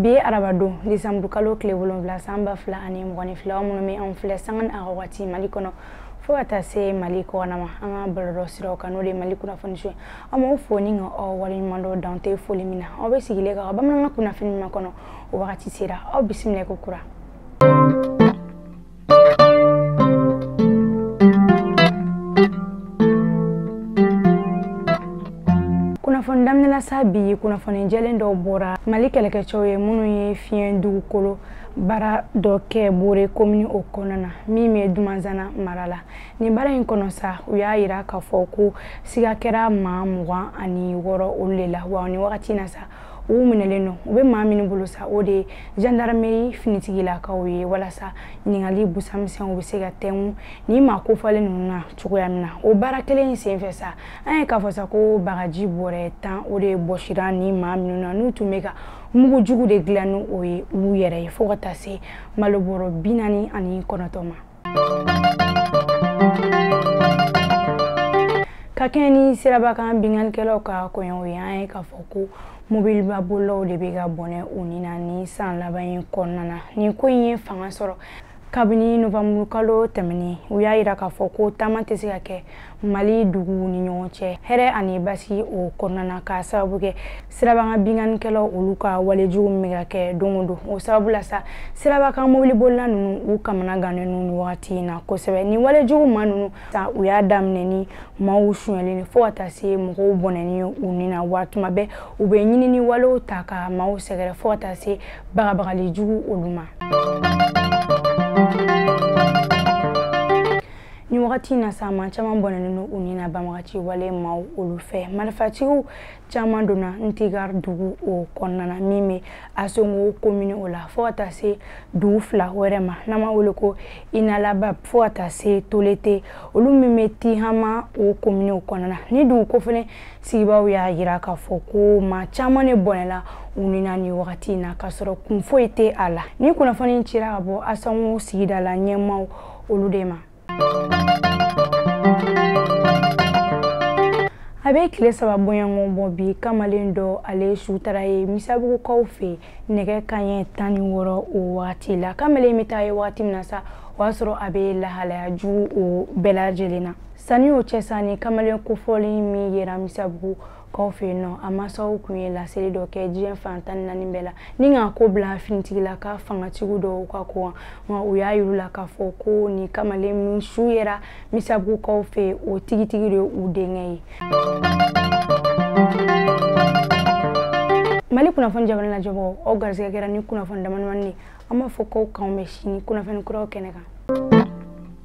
bi arabadon disanburu kalo tile wolonwula san ba fila ani mugan ni fila minnu bɛ anw filɛ sanga ni a wagati mali kɔnɔ fo ka taa se mali kɔnɔma an ka bɔlɔlɔ siraw kan n'o de mali kunnafoni so an b'aw fo ni k'aw waleɲumandɔn dan tɛ foli min na aw bɛ sigilen ka bamanankan kunnafoni min kɔnɔ o wagati sera aw bisimila ko kura kunnafoni daminɛla sa bi kunnafoni jɛlen dɔw bɔra mali kɛlɛkɛcɛw ye minnu ye fiɲɛ dugukolo baara dɔ kɛ bore komini o kɔnɔ na min bɛ dumanzana mara la nin baara in kɔnɔ sa u y'a yira k'a fɔ ko siga kɛra maa mugan ani wɔɔrɔ olu de la wa ni wagati na sa u minɛlen don u bɛ maa minnu bolo sa o de ye jandarameri finitigilakaw ye walasa ɲininkali busamisɛnw bɛ se ka tɛngu ni maa kofɔlen ninnu na cogoya min na o baara kelen in senfɛ sa an ye k'a fɔ sa ko bagaji bɔrɛ tan o de bɔsira ni maa minnu na n'u tun bɛ ka mugu jugu de dilan ni o ye u yɛrɛ ye fo ka taa se malo bɔrɔ bi naani ani kɔnɔntɔn ma ka kɛɲɛ ni siraba kan binkannikɛlaw ka koɲɛw ye an ye k'a fɔ ko mobiliba bolilaw de bɛ ka bɔnɛ u ni na nin san laban in kɔnɔna na nin ko in ye fanga sɔrɔ kabini novanburukalo tɛmɛnen u y'a yira k'a fɔ ko taama tɛ se ka kɛ mali duguw ni ɲɔgɔn cɛ hɛrɛ ani basigi o kɔnɔna na k'a sababu kɛ siraba kan binkannikɛlaw olu ka walejugu min bɛ ka kɛ don o don o sababu la sa siraba kan mobilibolila ninnu u kamana gannen don nin wagati in na kosɛbɛ ni walejugu maa ninnu sa u y'a daminɛ ni maaw sonyɛlen ni fo ka taa se mɔgɔw bɔnɛni u ni na wa tuma bɛɛ u bɛ ɲanini walew ta ka maaw sɛgɛrɛ fo ka taa se bagabagali jugu olu ma ni wagati in na sa maa caman bɔnɛnen don u ni na banbagaci wale maaw olu fɛ marifatigiw caman donna ntigar dugu o kɔnɔna na min bɛ asongo komini o la fo ka taa se dugu fila wɛrɛ ma n'an b'a wele ko inalaba fo ka taa se tolete olu min bɛ tihama o komini o kɔnɔna na nin dugu kofɔlen sigibaaw y'a yira k'a fɔ ko maa caman de bɔnɛla u ni na nin wagati in na k'a sɔrɔ kun foyi tɛ a la ni kunnafoni cira ka bɔ asongo sigida la ɲɛmaaw olu de ma a bɛ tile saba bɔɲɔgɔn bɔ bi kamalen dɔ ale su taara ye misabugukaw fɛ nɛgɛ kanɲɛ tan ni wɔɔrɔ o wagati la kamalen bɛ taa ye wagati min na sa o y'a sɔrɔ a bɛ lahalaya jugu o bɛɛ lajɛlen na sanni o cɛ sa nin kamalen kofɔlen min yera misabugu kaw fɛ yen nɔ a mansaw tun ye laseli dɔ kɛ diɲɛ fan tan ni naani bɛɛ la ni k'a ko bila finitigila ka fangatigiw don u ka ko la u y'a yir'u la k'a fɔ ko nin kamalen min su yera misabugukaw fɛ o tigitigi de u denkɛ ye mali kunnafoni jabarani lajɛbaw aw garisɛgɛ kɛra nin kunnafoni damadamani an b'a fɔ k'aw k'an bɛn sini kunnafoni kuraw kɛnɛ kan